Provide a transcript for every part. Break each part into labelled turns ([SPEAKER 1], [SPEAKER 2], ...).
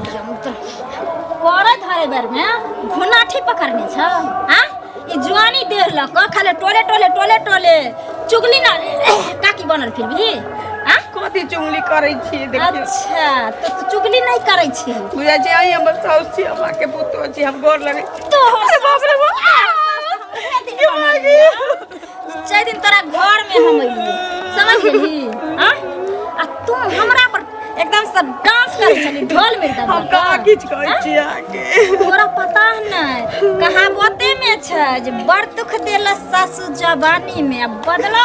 [SPEAKER 1] करे धरे बेर में घुनाठी पकड़ने छ हां ई जुआनी देर ल क खाले टोले टोले टोले टोले चुगली ना काकी बनल फिर भी हां कथी चुगली
[SPEAKER 2] करै छी देखियो अच्छा तो तू
[SPEAKER 1] चुगली नहीं करै छी बुझा जे आई हमर
[SPEAKER 2] साउस छी हमरा के पुतो छी हम गोर लगै छी तो अरे बाप रे
[SPEAKER 1] बाप के मागी चारि दिन तोरा घर में हम अइली समझ गेली हां आ तू हमरा पर एकदम से डांस कर चली ढोल में एकदम हम कहाँ किछु कहै
[SPEAKER 2] छी अहाँके तोरा पता
[SPEAKER 1] नहीं कहावते में छै जे बड़ दुख देला सासु जवानी में आ बदला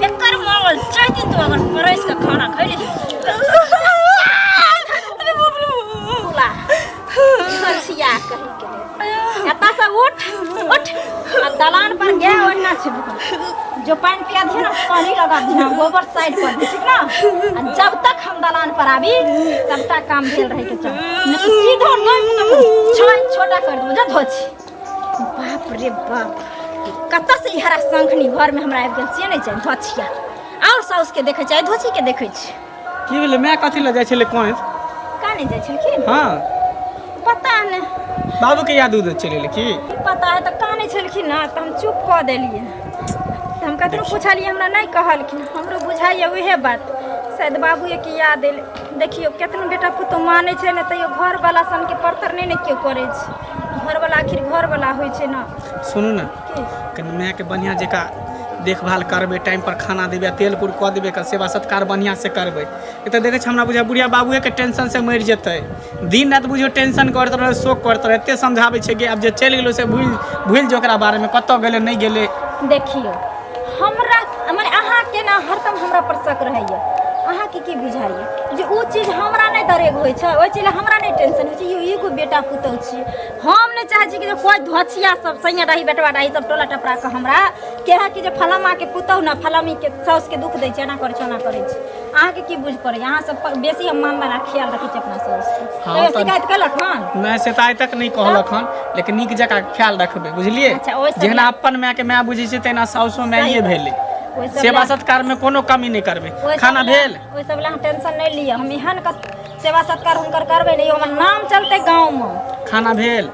[SPEAKER 1] बेकार मांगल चार दिन तो अगर परस के खाना खैले छी अरे बाप रे बोला छोरसिया कहि के एता से उठ उठ आ दलान पर गया ओना छै जो पानी पिया दे ना पानी लगा दे ना गोबर साइड कर दे ठीक ना आ जब तक हम दलान पर आबी तब तक काम भेल रहे के चाही नहीं तो सीधा नहीं छोटा कर दे बुझा धोची बाप रे बाप कतऽ से इहरा शंखनी घरमे हमरा आबि गेल से नहि छै धोछिया आओर साउसके देखै छै धोछीके देखै छै की भेलै माय
[SPEAKER 3] कथी लऽ जाइ छलै कहें का नहि जाइ
[SPEAKER 1] छलखिन हँ
[SPEAKER 3] पता
[SPEAKER 1] नहि बाबूके याद
[SPEAKER 3] उद चलि एलै की की पता है तऽ कानै
[SPEAKER 1] छलखिन ने तऽ हम चुप कऽ देलियै तऽ हम कतनो पुछलियै हमरा नहि कहलखिन हमरो बुझाइए उहे बात शायद बाबूए के याद एलै देखियौ केतनो बेटा पुतहु मानै छै ने तैयो घरवला सनके परतर नहि ने केओ करै छै घरवला आखिर घरवला होइ छै ने सुनू ने की
[SPEAKER 3] कनि मायके बढ़िआँ जकाँ देखभाल करबै टाइमपर खाना देबै तेल कुर कऽ देबै एकर सेवा सत्कार बढ़िआँसँ करबै ई तऽ देखै छै हमरा बुझाइ बुढ़िया बाबुएके टेंशनसँ मरि जेतै दिन राति बुझियौ टेंशन करैत रहै शोक करैत रहै एतेक समझाबै छै कि आब जे चलि गेलै से भूलि भूलि जो ओकरा बारेमे कतय गेलै नहि गेलै देखियौ
[SPEAKER 1] हमरा मने अहाँ केना हरदम हमरा पर शक रहैया अहाँ के की बुझाइए जे ओ चीज हमरा नहीं दरेग हो छै ओहि चीज हमरा नहीं टेंशन हो यो एगो बेटा पुतौ छी हम नहीं चाहे छी कि कोई धोछिया सब सैया रही बेटवा रही सब टोला टपरा के हमरा कहे कि जे फलामा के पुतौ ना फलामी के सास के दुख दै छै एना करै छै ओना करै छै अहाँके की बुझ पड़ै अहाँ सब बेसी हम मान बना ख्याल रखै छी अपना सब हाँ, तो शिकायत केलक हन नहि शिकायत तक नहीं
[SPEAKER 3] कहलक हन लेकिन नीक जकाँ ख्याल रखबै बुझलिए अच्छा, जेना अपन
[SPEAKER 1] माय के
[SPEAKER 3] माय बुझै छै तेना साउसो माये भेलै सेवा सत्कार में कोनो कमी नहीं करबे खाना भेल ओहि सब लए टेंशन
[SPEAKER 1] नहीं लिअ हम एहन सेवा सत्कार हुनकर करबै नहीं हमर नाम चलते गांव में खाना भेल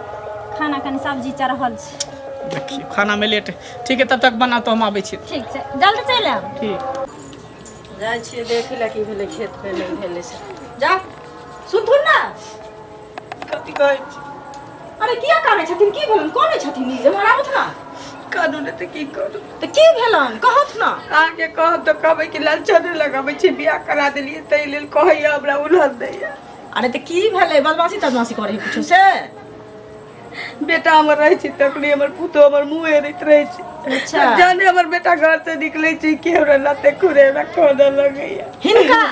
[SPEAKER 3] खाना कनि
[SPEAKER 1] सब्जी चढ़ल छै देखिए खाना में
[SPEAKER 3] लेट ठीक है तब तक बना तो हम आबै छी ठीक छै जल्दी चलि आयब
[SPEAKER 1] ठीक
[SPEAKER 3] जाइ
[SPEAKER 2] छियै देखै लए की भेलै खेत पे नहि भेलै से जा
[SPEAKER 1] सुनथुन ने
[SPEAKER 2] कथी कहै छी अरे किया
[SPEAKER 1] कानै छथिन की भेलन कानै छथिन ई जे मराबथ ना कानू ने तऽ
[SPEAKER 2] की करू तऽ की भेलन
[SPEAKER 1] कहथ ना अहाँके कहब तऽ
[SPEAKER 2] कहबै कि लालचा नहि लगबै छी बियाह करा देलियै ताहि लेल कहैया हमरा उलहन दैया अरे तऽ की
[SPEAKER 4] भेलै बदमाशी तदमाशी करै है कुछो से
[SPEAKER 2] बेटा हमर रहै छै तखने हमर पुतहु हमर मुँह हेरैत रहै छै अच्छा जहने हमर
[SPEAKER 4] बेटा
[SPEAKER 2] घर से निकलै छै कि हमरा लते खुरे हमरा खोदऽ लगैया हिनका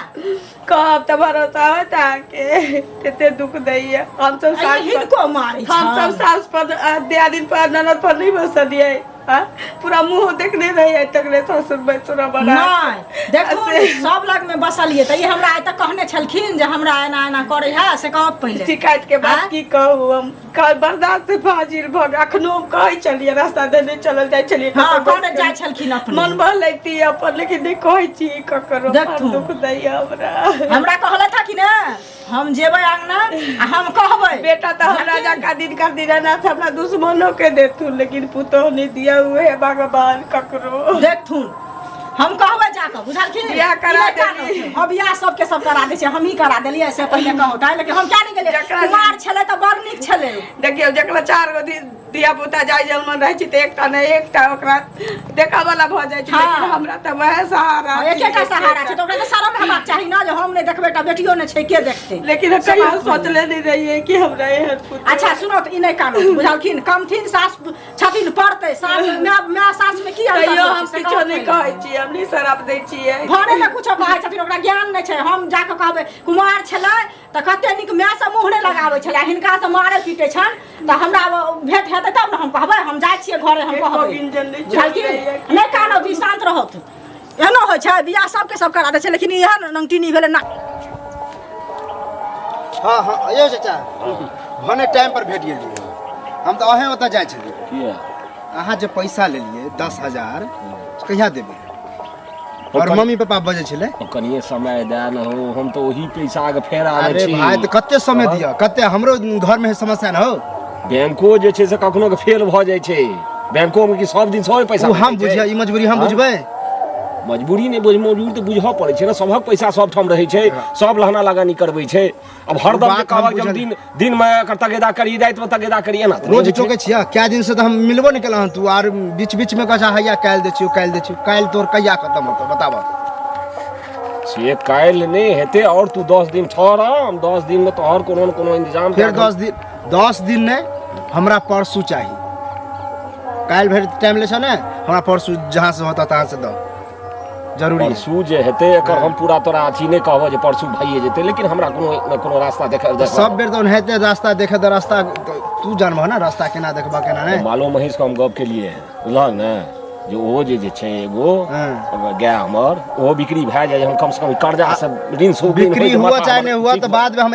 [SPEAKER 4] कहब
[SPEAKER 2] तऽ भरोसा होत अहाँके कते दुख दैया हमसब अरे सास पर हिनको मारै हम सब
[SPEAKER 4] छनि सास पर
[SPEAKER 2] आ, दियादिन पर ननद पर नहीं बसलियै आ, पूरा मुंह देखने रही आइ तक रे सासुर में तोरा बना नहि देखू
[SPEAKER 4] ने, सब लगमे बसलियै तऽ ई हमरा आइ तक कहने छलखिन जे हमरा एना एना करै है से कहब पहिले शिकायत के बात आँय? की
[SPEAKER 2] कहू हम काल बर्दाश्त से फाजिल भऽ गेल अखनो हम कहै छलियै रास्ता देने चलल जाइ छलियै हँ कतहु कहने बैस जाइ कऽ। छलखिन
[SPEAKER 4] अपने मन बहलैती
[SPEAKER 2] अपन लेकिन नहि कहै छी ककरो देखथुन। दुख दैया हमरा हमरा
[SPEAKER 4] कहलथि है कि ने हम जेबै अंगना आ हम कहबै बेटा तो हमरा
[SPEAKER 2] जका दिन कर दिन रहना था अपना दुश्मनों के देथुन लेकिन पुतोह नहीं दिया हुए है भगवान ककरो देखथुन हम
[SPEAKER 4] कहबै जाकऽ बुझलखिन बियाह करा ई लड़का देली।
[SPEAKER 2] कहथुन। हँ बियाह सबके सब
[SPEAKER 4] करा दै छै हमही करा देलियै से पहिले कहौ काहे लेकिन हम किया नहि गेलियै जकरा- कुमार छलै तऽ बड़ नीक छलै देखियो जकरा चार
[SPEAKER 2] गो दिन धिया पुता जाय जलमन रहे छी त एकटा ने एकटा ओकरा देखा वाला भ जाय छी हाँ। लेकिन हमरा त वह सहारा एक छी, एकटा सहारा छै
[SPEAKER 4] एकटा। तऽ ओकरा तऽ शरम हेबाक चाही ने जे हम नहि देखबै एकटा बेटियो नहि छै के देखतै लेकिन हम कहियो समाज मे। सोचले
[SPEAKER 2] नहीं रहिए कि हमरा एहन पुत्र अच्छा सुनो तऽ ई नहि कानू
[SPEAKER 4] बुझलखिन कमथिन सास छथिन पड़तै सास माय माय सास मे की अन्तर तैयो होइ हम छै, से किछो कहब नहि पहिले। कहै छी हम
[SPEAKER 2] नहीं शराब दै छियै घरे मे कुछो कहै
[SPEAKER 4] छथिन ओकरा ज्ञान नहि छै हम जाके कहबै कुमार छलै तऽ कते नीक मायसँ मुँह नहि लगाबै छलै हिनकासँ मारै पीटै छनि तऽ हमरा भेट हेतै तब ने हम कहबै हम जाइ छियै घरे हम कहबै नहि कानब जी शान्त रहत एहनो होइ छै बियाह सबके सब करा दै छै लेकिन इएह नंगटिनी भेलै ना हँ
[SPEAKER 5] हँ यौ चाचा भने टाइम पर भेट गेलियै हम तऽ अहें ओतऽ जाइ छलियै अहाँ जे पैसा लेलियै दस हजार कहिया देबै और मम्मी पापा बजे छले कनिए समय दए
[SPEAKER 6] न हो हम तो वही पैसा के फेर आवे अरे छी भाई तो कते समय
[SPEAKER 5] दिया कते हमरो घर में समस्या न हो बैंको जे
[SPEAKER 6] छै से कखनो के फेल भ जाय छै बैंको में कि सब दिन सौ पैसा हम बुझिया ई मजबूरी हम
[SPEAKER 5] हाँ? बुझबै मजबूरी
[SPEAKER 6] नहि बुझ मजबूरी तऽ बुझऽ पड़ै छै ने सभक पैसा सब ठाम रहै छै सब लहना लगानी करबै छै अब हर दम बात हम बुझल- दिन दिन में एकर तगेदा करी रात में तगेदा करी एना तऽ रोज नहि होइ छै। टोके छियै कए
[SPEAKER 5] दिन से तऽ हम मिलबो नहि केलहुँ हँ तू आर बीच बीच में कहै छै हैया काल्हि दै छियौ काल्हि दै छियौ काल्हि तोर कहिया खत्म होतौ बताबऽ
[SPEAKER 6] से काल्हि नहि हेतै आओर तू दस दिन ठहर हम दस दिन में तोहर कोनो ने कोनो इंतजाम फेर कए कऽ- दस दिन
[SPEAKER 5] दस दिन नहि हमरा परसू चाही काल्हि भरि टाइम लै छौ ने हमरा परसू जहाँ से होता तहाँ से दऽ जरूरी परसू जे हेतै एकर हम
[SPEAKER 6] पूरा तोरा अथी नहि कहबो जे परसू भइए जेतै लेकिन हमरा कोनो ने कोनो रास्ता देख देख सब बेर तऽ ओनाहिते
[SPEAKER 5] रास्ता देखे तऽ रास्ता तू जानबह ने रास्ता केना देखबह केना नहि मालो महींस हम गप के
[SPEAKER 6] लिए बुझलह ने जे ओहो जे जे छै एगो हँ। गाय हमर ओहो बिक्री भए जाए हम कम से कम कर्जा से ऋण से बिक्री हुआ चाहे नहि
[SPEAKER 5] हुआ तऽ बादमे हम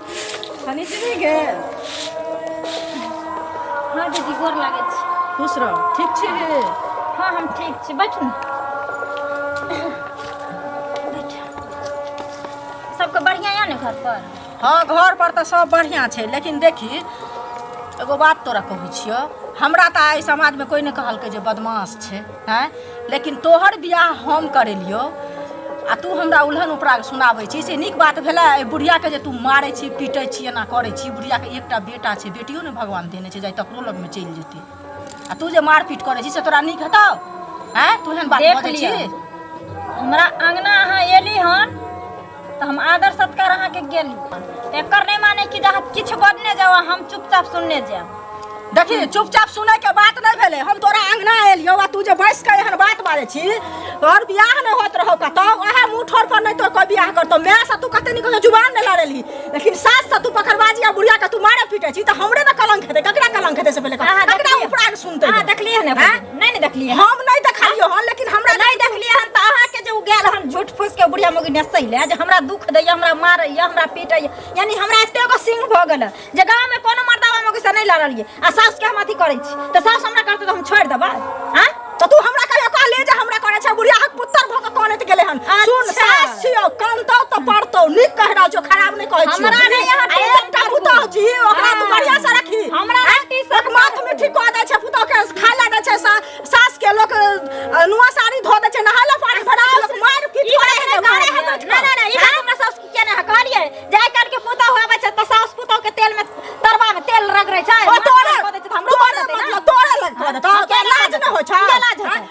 [SPEAKER 4] हनी से नहीं गे
[SPEAKER 1] हाँ दीदी गोर लागे छी खुश रह ठीक
[SPEAKER 4] छी गे हाँ हम
[SPEAKER 1] ठीक छी बैठ ने बैठ। सबके बढ़िया यऽ ने घर पर हाँ घर पर
[SPEAKER 4] तऽ सब बढ़िया छै लेकिन देखी एगो बात तोरा कहै छियौ हमरा तऽ आइ समाजमे कोई नहि कहलकै जे बदमाश छै आँय लेकिन तोहर बियाह हम करेलियौ आ तू हमरा उल्हन उपराग सुनाबै छी से नीक बात भेलै एहि बुढ़ियाके जे तू मारै छी पीटै छी एना करै छी बुढ़ियाके एकटा बेटा छै बेटियो ने भगवान देने छै जाय तकरो लगमे चलि जेतै आ तू जे मारपीट करै छी से तोरा नीक हेतौ आँय तू एहन बात देख बजै लिअ। छी हमरा
[SPEAKER 1] अङ्गना अहाँ एली हन तऽ हम आदर सत्कार अहाँके गेली एकर नहि माने कि जे अहाँ किछु बजने जाउ आ हम चुपचाप सुनने जायब देखी
[SPEAKER 4] चुपचाप सुनै के बात नहि भेलै हम तोरा अंगना एलियो आ तू जे बैस के एहन बात बाजै छी तोहर बियाह नहि होत रहौ का तब वएह मुंह ठोर पर नहि तोर कोई बियाह करतो माय से तू कते निक जुबान नहि लड़ेली लेकिन सास से तू पकड़बाजी आ बुढ़िया के तू मारे पीटे छी तऽ हमरे ने कलंक हेतै ककरा कलंक हेतै से पहिले कह। अहाँ ककरा देखलियै? उपराग सुनतै अहाँ देखलियै ने आँय?
[SPEAKER 1] नहीं नहीं देखलिए हम नहीं देखलियो हन
[SPEAKER 4] लेकिन हमरा नहीं देखलिए हन त अहा
[SPEAKER 1] के जे उ गेल हन झूठ फूस के बुढ़िया मगी ने सही ले जे हमरा दुख दे हमरा मारे या हमरा पीटे यानी हमरा एते को सिंह भ गेल जे गांव में कोनो मर्दावा मगी से नहीं लड़लिए आ सास के हम अथी करै छी त सास हमरा करते त हम छोड़ देबा हां त तू हमरा कहियो
[SPEAKER 4] कह ले जे हमरा करे छ बुढ़िया हक पुत्र भ के कोने त गेले हन सुन अच्छा। सास छियो कानतो त पड़तो नीक कह रहल छो खराब कहै छी हमरा ने यहाँ
[SPEAKER 1] आ एक टा पुतौ
[SPEAKER 4] छी ओकरा तू बढ़िया से रखी हमरा ने टीसन एक
[SPEAKER 1] माथ में ठीक कऽ दै
[SPEAKER 4] छै पुतौ के खाय लए दै छै सा- सास के लोक अ, नुआ साड़ी धो दै छै नहाय लए पानी भरा दै छै, मारि पीट ई करै करे है है करे है बैठ ना कऽ। ना
[SPEAKER 1] ना ई बात हमरा सास के ना कहलिए जाय काल के पुतौ होवे छै त सास पुतौ के तेल में तरबा में तेल रगड़ै छै ओ तोरे कऽ दै छै त हमरो
[SPEAKER 4] तोरे कऽ देतै
[SPEAKER 1] ना। मतलब तोरे लग
[SPEAKER 4] कऽ देतौ हाँ, तोरा केना लाज कऽ न होइ छै देतै? केना लाज हेतै?